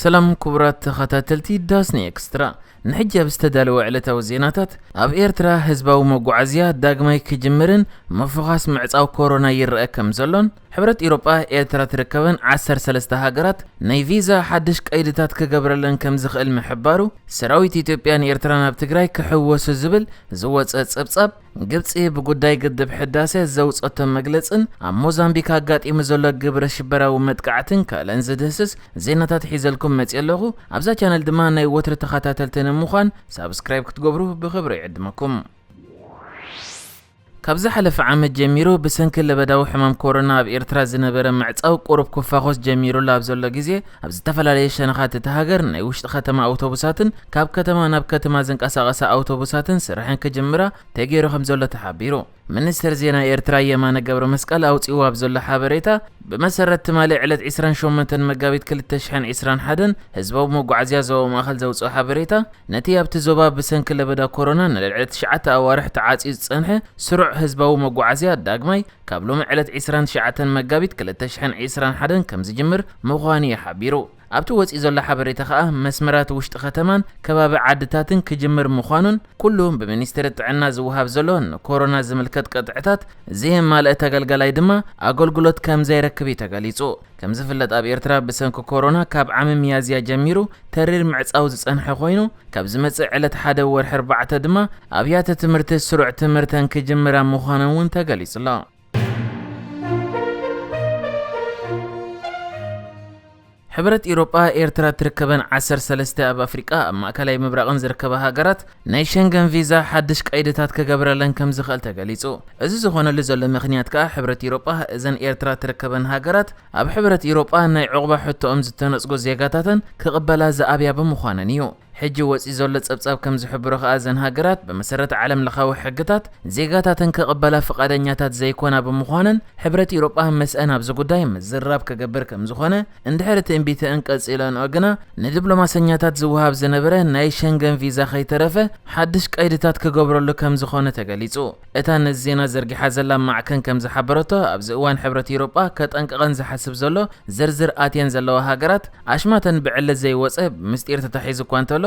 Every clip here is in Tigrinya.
ሰላም ክቡራት ተኸታተልቲ ዳስኒ ኤክስትራ፣ ንሕጂ ኣብ ዝተዳለወ ዕለታዊ ዜናታት፣ ኣብ ኤርትራ ህዝባዊ መጓዓዝያ ዳግማይ ክጅምርን ምፍዃስ ምዕጻው ኮሮና ይረኣ ከም ዘሎን፣ ሕብረት ኤውሮጳ ኤርትራ ትርከበን ዓሰርተ ሰለስተ ሃገራት ናይ ቪዛ ሓድሽ ቀይድታት ክገብረለን ከም ዝኽእል ምሕባሩ፣ ሰራዊት ኢትዮጵያን ኤርትራን ኣብ ትግራይ ክሕወሱ ዝብል ዝወጸ ጸብጻብ፣ ግብጺ ብጉዳይ ግድብ ሕዳሰ ዘውጸቶ መግለጽን ኣብ ሞዛምቢክ ኣጋጢሙ ዘሎ ግብረ ሽበራዊ መጥቃዕትን ካልእን ዝድህስስ ዜናታት ሒዘልኩም መጽየ ኣለኹ። ኣብዛ ቻነል ድማ ናይ ወትሪ ተኸታተልቲ ንምዃን ሳብስክራይብ ክትገብሩ ብኽብሪ ይዕድመኩም። ካብ ዝሓለፈ ዓመት ጀሚሩ ብሰንኪ ለበዳዊ ሕማም ኮሮና ኣብ ኤርትራ ዝነበረ ምዕጻው ቁሩብ ክፋኾስ ጀሚሩሉ ኣብ ዘሎ ግዜ፣ ኣብ ዝተፈላለየ ሸነኻት እታ ሃገር ናይ ውሽጢ ከተማ ኣውቶቡሳትን ካብ ከተማ ናብ ከተማ ዝንቀሳቐሳ ኣውቶቡሳትን ስርሐን ክጅምራ ተገይሩ ከም ዘሎ ተሓቢሩ። ሚኒስትር ዜና ኤርትራ የማነ ገብረ መስቀል ኣውጺእዎ ኣብ ዘሎ ሓበሬታ ብመሰረት ትማሊ ዕለት ዕስራን ሸሞንተን መጋቢት ክልተ ሽሕን ዕስራን ሓደን ህዝባዊ መጓዓዝያ ዞባ ማእከል ዘውጽኦ ሓበሬታ ነቲ ኣብቲ ዞባ ብሰንኪ ለበዳ ኮሮና ንልዕሊ ትሽዓተ ኣዋርሕ ተዓጽዩ ዝጸንሐ ስሩዕ ህዝባዊ መጓዓዝያ ዳግማይ ካብ ሎሚ ዕለት ዕስራን ትሽዓተን መጋቢት ክልተ ሽሕን ዕስራን ሓደን ከም ዝጅምር ምዃኑ'ዩ ሓቢሩ። ኣብቲ ወጺኡ ዘሎ ሓበሬታ ከኣ መስመራት ውሽጢ ከተማን ከባቢ ዓድታትን ክጅምር ምዃኑን ኩሉ ብሚኒስትሪ ጥዕና ዝወሃብ ዘሎ ንኮሮና ዝምልከት ቅጥዕታት ዘየማልአ ተገልጋላይ ድማ ኣገልግሎት ከም ዘይረክብ'ዩ ተገሊጹ። ከም ዝፍለጥ ኣብ ኤርትራ ብሰንኪ ኮሮና ካብ ዓሚ ሚያዝያ ጀሚሩ ተሪር ምዕጻው ዝጸንሐ ኮይኑ ካብ ዝመጽእ ዕለት ሓደ ወርሒ ኣርባዕተ ድማ ኣብያተ ትምህርቲ ስሩዕ ትምህርተን ክጅምራ ምዃነን እውን ተገሊጹ ኣሎ። ሕብረት ኢሮጳ ኤርትራ እትርከበን ዓሰርተ ሰለስተ ኣብ ኣፍሪቃ ኣብ ማእከላይ ምብራቕን ዝርከባ ሃገራት ናይ ሸንገን ቪዛ ሓድሽ ቀይድታት ክገብረለን ከምዝኽእል ተገሊጹ። እዚ ዝኾነሉ ዘሎ ምኽንያት ከኣ ሕብረት ኢሮጳ እዘን ኤርትራ ትርከበን ሃገራት ኣብ ሕብረት ኢሮጳ ናይ ዑቕባ ሕቶኦም ዝተነጽጉ ዜጋታተን ክቕበላ ዝኣብያ ብምዃነን እዩ። ሕጂ ወጺኡ ዘሎ ጸብጻብ ከምዝሕብሮ ከኣ እዘን ሃገራት ብመሰረት ዓለምለኻዊ ሕግታት ዜጋታተን ክቕበላ ፍቓደኛታት ዘይኮና ብምዃነን ሕብረት ኢሮጳ ምስኣን ኣብዚ ጉዳይ ምዝርራብ ክገብር ከምዝኾነ እንድሕር ትእንቢተእን ቀጺለንኦ ግና ንድብሎማሰኛታት ዝወሃብ ዝነበረ ናይ ሸንገን ቪዛ ከይተረፈ ሓድሽ ቀይድታት ክገብረሉ ከም ዝኾነ ተገሊጹ። እታ ነዚ ዜና ዘርጊሓ ዘላ ማዕከን ከም ዝሓበረቶ ኣብዚ እዋን ሕብረት ኤውሮጳ ከጠንቅቐን ዝሓስብ ዘሎ ዝርዝር ኣትየን ዘለዋ ሃገራት ኣሽማተን ብዕሊ ዘይወጸ ምስጢር ተታሒዙ እኳ እንተሎ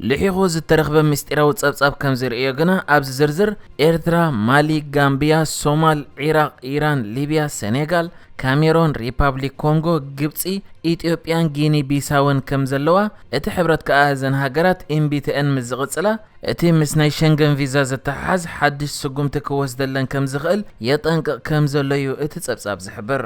ልሒኹ ዝተረኽበ ምስጢራዊ ጸብጻብ ከም ዘርእዮ ግና፣ ኣብዚ ዝርዝር፣ ኤርትራ፣ ማሊ፣ ጋምብያ፣ ሶማል፣ ዒራቕ፣ ኢራን፣ ሊብያ፣ ሰኔጋል፣ ካሜሮን፣ ሪፓብሊክ ኮንጎ፣ ግብጺ፣ ኢትዮጵያን ጊኒ ቢሳውን ከም ዘለዋ፣ እቲ ሕብረት ከኣ እዘን ሃገራት እምቢተኤን ምስ ዝቕጽላ፣ እቲ ምስ ናይ ሸንገን ቪዛ ዘተሓሓዝ ሓድሽ ስጉምቲ ክወስደለን ከም ዝኽእል የጠንቅቕ ከም ዘሎ'ዩ እቲ ጸብጻብ ዝሕብር።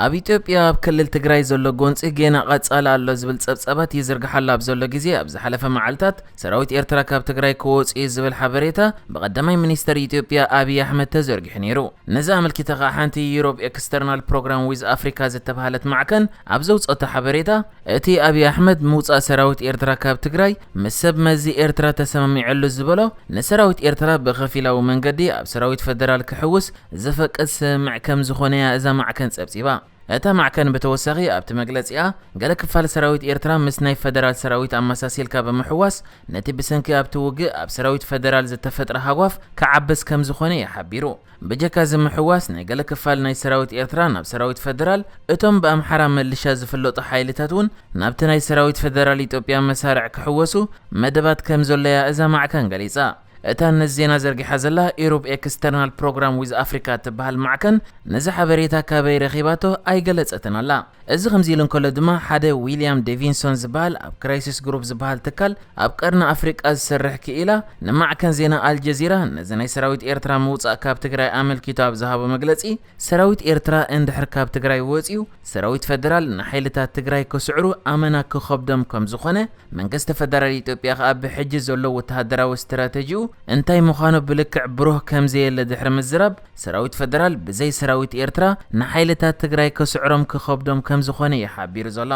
ኣብ ኢትዮጵያ ኣብ ክልል ትግራይ ዘሎ ጎንፂ ጌና ቐፃሊ ኣሎ ዝብል ፀብፃባት ይዝርግሓሉ ኣብ ዘሎ ግዜ ኣብ ዝሓለፈ መዓልታት ሰራዊት ኤርትራ ካብ ትግራይ ክወፅኡ እዩ ዝብል ሓበሬታ ብቐዳማይ ሚኒስተር ኢትዮጵያ ኣብይ ኣሕመድ ተዘርጊሑ ነይሩ። ነዚ ኣመልኪታ ከዓ ሓንቲ ዩሮፕ ኤክስተርናል ፕሮግራም ዊዝ ኣፍሪካ ዝተብሃለት ማዕከን ኣብ ዘውፀኦቶ ሓበሬታ እቲ ኣብይ ኣሕመድ ምውፃእ ሰራዊት ኤርትራ ካብ ትግራይ ምስ ሰብ መዚ ኤርትራ ተሰማሚዐሉ ዝበሎ ንሰራዊት ኤርትራ ብኸፊላዊ መንገዲ ኣብ ሰራዊት ፈደራል ክሕውስ ዘፈቅድ ስምምዕ ከም ዝኾነ'ያ እዛ ማዕከን ጸብጺባ። እታ ማዕከን ብተወሳኺ ኣብቲ መግለጺኣ፣ ገለ ክፋል ሰራዊት ኤርትራ ምስ ናይ ፈደራል ሰራዊት ኣመሳሲልካ ብምሕዋስ ነቲ ብሰንኪ ኣብቲ ውግእ ኣብ ሰራዊት ፈደራል ዝተፈጥረ ሃጓፍ ክዓብስ ከም ዝኾነ'ዩ ሓቢሩ። ብጀካ እዚ ምሕዋስ ናይ ገለ ክፋል ናይ ሰራዊት ኤርትራ ናብ ሰራዊት ፈደራል፣ እቶም ብኣምሓራ ምልሻ ዝፍለጡ ሓይልታት'ውን ናብቲ ናይ ሰራዊት ፈደራል ኢትዮጵያ መሳርዕ ክሕወሱ መደባት ከም ዘሎ'ያ እዛ ማዕከን ገሊጻ። እታ ነዚ ዜና ዘርጊሓ ዘላ ኢሩብ ኤክስተርናል ፕሮግራም ዊዝ ኣፍሪካ እትበሃል ማዕከን ነዚ ሓበሬታ ካበይ ረኺባቶ ኣይገለጸትን ኣላ። እዚ ከምዚ ኢሉ እንከሎ ድማ ሓደ ዊልያም ዴቪንሶን ዝበሃል ኣብ ክራይሲስ ግሩፕ ዝበሃል ትካል ኣብ ቀርኒ ኣፍሪቃ ዝሰርሕ ክኢላ ንማዕከን ዜና ኣልጀዚራ ነዚ ናይ ሰራዊት ኤርትራ ምውጻእ ካብ ትግራይ ኣመልኪቱ ኣብ ዝሃቦ መግለጺ ሰራዊት ኤርትራ እንድሕር ካብ ትግራይ ወጺኡ ሰራዊት ፈደራል ንሓይልታት ትግራይ ክስዕሩ ኣመና ክኸብዶም ከም ዝኾነ፣ መንግስቲ ፈደራል ኢትዮጵያ ከኣ ብሕጂ ዘሎ ወተሃደራዊ ስትራተጂኡ እንታይ ምዃኑ ብልክዕ ብሩህ ከም ዘየለ ድሕሪ ምዝራብ፣ ሰራዊት ፈደራል ብዘይ ሰራዊት ኤርትራ ንሓይልታት ትግራይ ክስዕሮም ክኸብዶም ከም ዝኾነ እዩ ሓቢሩ ዘሎ።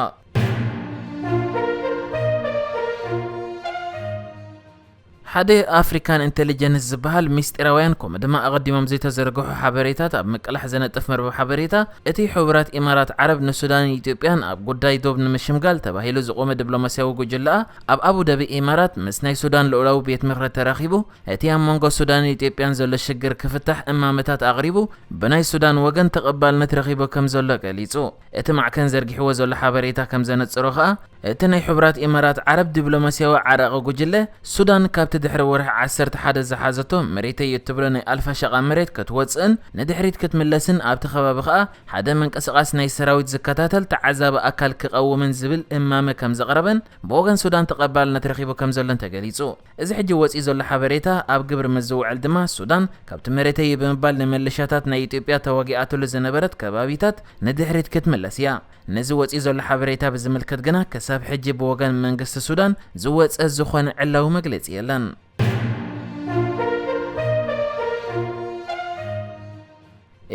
ሓደ ኣፍሪካን ኢንተሊጀንስ ዝበሃል ሚስጢራውያን ከምኡ ድማ ኣቐዲሞም ዘይተዘርግሑ ሓበሬታት ኣብ ምቅላሕ ዝነጥፍ መርበብ ሓበሬታ እቲ ሕቡራት ኢማራት ዓረብ ንሱዳንን ኢትዮጵያን ኣብ ጉዳይ ዶብ ንምሽምጋል ተባሂሉ ዝቖመ ድብሎማሲያዊ ጉጅለኣ ኣብ ኣቡዳቢ ኢማራት ምስ ናይ ሱዳን ልኡላዊ ቤት ምኽሪ ተራኺቡ እቲ ኣብ መንጎ ሱዳንን ኢትዮጵያን ዘሎ ሽግር ክፍታሕ እማመታት ኣቕሪቡ ብናይ ሱዳን ወገን ተቐባልነት ረኺቡ ከምዘሎ ገሊፁ። እቲ ማዕከን ዘርጊሕዎ ዘሎ ሓበሬታ ከም ዘነጽሮ ከኣ፣ እቲ ናይ ሕቡራት ኢማራት ዓረብ ዲብሎማስያዊ ዓራቒ ጉጅለ፣ ሱዳን ካብቲ ድሕሪ ወርሒ ዓሰርተ ሓደ ዝሓዘቶ መሬተይ እትብሎ ናይ ኣልፋሸቃ መሬት ክትወጽእን ንድሕሪት ክትምለስን ኣብቲ ከባቢ ከኣ ሓደ ምንቅስቓስ ናይ ሰራዊት ዝከታተል ተዓዛቢ ኣካል ክቐውምን ዝብል እማመ ከም ዘቕረበን ብወገን ሱዳን ተቐባልነት ረኺቡ ከም ዘሎን ተገሊጹ። እዚ ሕጂ ወጺኡ ዘሎ ሓበሬታ ኣብ ግብሪ ምስ ዝውዕል ድማ ሱዳን ካብቲ መሬተይ'ዩ ብምባል ንመለሻታት ናይ ኢትዮጵያ ተዋጊኣትሉ ዝነበረት ከባቢታት ንድሕሪት ክትምለስ እያ። ነዚ ወጺኡ ዘሎ ሓበሬታ ብዝምልከት ግና ክሳብ ሕጂ ብወገን መንግስቲ ሱዳን ዝወጸ ዝኾነ ዕላዊ መግለጺ የለን።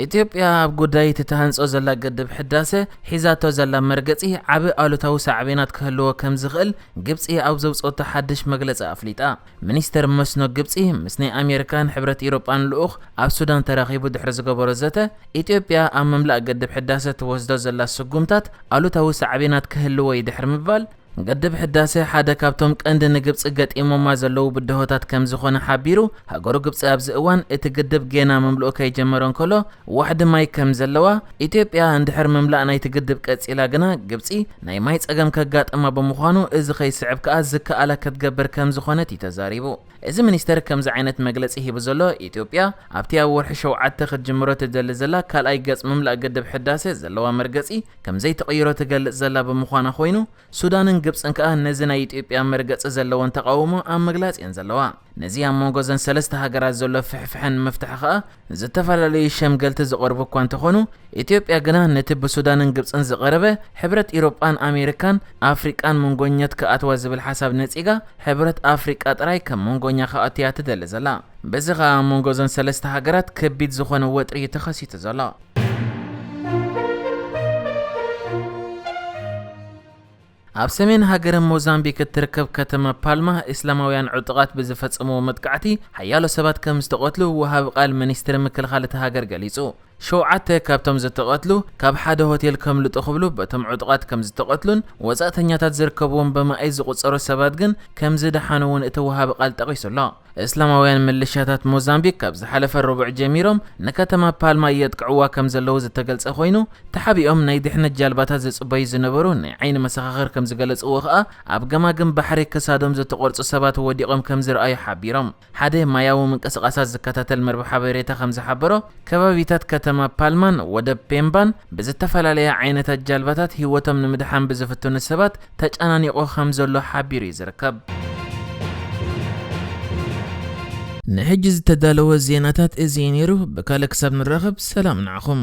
ኢትዮጵያ ኣብ ጉዳይ እቲ ትሃንጾ ዘላ ግድብ ሕዳሰ ሒዛቶ ዘላ መርገጺ ዓቢ ኣሉታዊ ሳዕቤናት ክህልዎ ከም ዝኽእል ግብጺ ኣብ ዘውጽኦቶ ሓድሽ መግለጺ ኣፍሊጣ። ሚኒስተር መስኖ ግብጺ ምስ ናይ ኣሜሪካን ሕብረት ኢሮጳን ልኡኽ ኣብ ሱዳን ተራኺቡ ድሕሪ ዝገበሮ ዘተ፣ ኢትዮጵያ ኣብ ምምላእ ግድብ ሕዳሰ ትወስዶ ዘላ ስጉምታት ኣሉታዊ ሳዕቤናት ክህልዎ'ዩ ድሕሪ ምባል፣ ግድብ ሕዳሰ ሓደ ካብቶም ቀንዲ ንግብፂ ገጢሞማ ዘለዉ ብድሆታት ከምዝኾነ ሓቢሩ፣ ሃገሩ ግብፂ ኣብዚ እዋን እቲ ግድብ ጌና ምምልኡ ከይጀመረ እንከሎ ዋሕዲ ማይ ከምዘለዋ፣ ኢትዮጵያ እንድሕር ምምላእ ናይቲ ግድብ ቀፂላ ግና ግብፂ ናይ ማይ ፀገም ከጋጥማ ብምዃኑ እዚ ከይስዕብ ከዓ ዝከኣላ ክትገብር ከምዝኾነት እዩ ተዛሪቡ። እዚ ሚኒስተር ከምዚ ዓይነት መግለጺ ሂቡ ዘሎ፣ ኢትዮጵያ ኣብቲ ኣብ ወርሒ ሸውዓተ ክትጅምሮ ትደሊ ዘላ ካልኣይ ገጽ ምምላእ ግድብ ሕዳሰ ዘለዋ መርገጺ ከምዘይትቕይሮ ትገልጽ ዘላ ብምዃና ኮይኑ፣ ሱዳንን ግብጽን ከኣ ነዚ ናይ ኢትዮጵያ መርገጺ ዘለወን ተቓውሞ ኣብ ምግላጽ እየን ዘለዋ። ነዚ ኣብ መንጎ እዘን ሰለስተ ሃገራት ዘሎ ፍሕፍሐ ንምፍታሕ ከኣ ዝተፈላለዩ ሸምገልቲ ዝቐርቡ እኳ እንተኾኑ ኢትዮጵያ ግና ነቲ ብሱዳንን ግብፅን ዝቐረበ ሕብረት ኢሮጳን ኣሜሪካን ኣፍሪቃን መንጎኘት ክኣትዋ ዝብል ሓሳብ ነጺጋ ሕብረት ኣፍሪቃ ጥራይ ከም መንጎኛ ክኣትያ ትደሊ ዘላ በዚ ኸኣ ኣብ መንጎ እዘን ሰለስተ ሃገራት ከቢድ ዝኾነ ወጥሪ እዩ ተኸሲቱ ዘሎ ኣብ ሰሜን ሃገረ ሞዛምቢክ እትርከብ ከተማ ፓልማ፣ እስላማውያን ዕጡቓት ብዝፈጸምዎ መጥቃዕቲ ሓያሎ ሰባት ከም ዝተቐትሉ ወሃቢ ቃል ሚኒስትሪ ምክልኻል እታ ሃገር ገሊጹ። ሸውዓተ ካብቶም ዝተቐትሉ፣ ካብ ሓደ ሆቴል ከምልጡ ክብሉ በቶም ዕጡቓት ከም ዝተቐትሉን ወጻእተኛታት ዝርከብዎም ብማኢት ዝቑጸሩ ሰባት ግን ከም ዝደሓኑ እውን እቲ ወሃቢ ቃል ጠቒሱ ኣሎ። እስላማውያን ምልሻታት ሞዛምቢክ ካብ ዝሓለፈ ረቡዕ ጀሚሮም ንከተማ ፓልማ የጥቅዕዋ ከም ዘለዉ ዝተገልጸ ኮይኑ፣ ተሓቢኦም ናይ ድሕነት ጃልባታት ዝጽበዩ ዝነበሩ ናይ ዓይኒ መሰኻኽር ከም ዝገለጽዎ ከኣ፣ ኣብ ገማግም ባሕሪ ክሳዶም ዝተቖርጹ ሰባት ወዲቖም ከም ዝርኣዩ ሓቢሮም። ሓደ ማያዊ ምንቅስቓሳት ዝከታተል መርበብ ሓበሬታ ከም ዝሓበሮ፣ ከባቢታት ከተማ ፓልማን ወደብ ፔምባን ብዝተፈላለያ ዓይነታት ጃልባታት ህይወቶም ንምድሓን ብዝፍትኑ ሰባት ተጨናኒቑ ከም ዘሎ ሓቢሩ እዩ ዝርከብ። ንሕጂ ዝተዳለወ ዜናታት እዚ እዩ ነይሩ፣ ብካልእ ክሳብ ንራኸብ ሰላም ንዓኹም።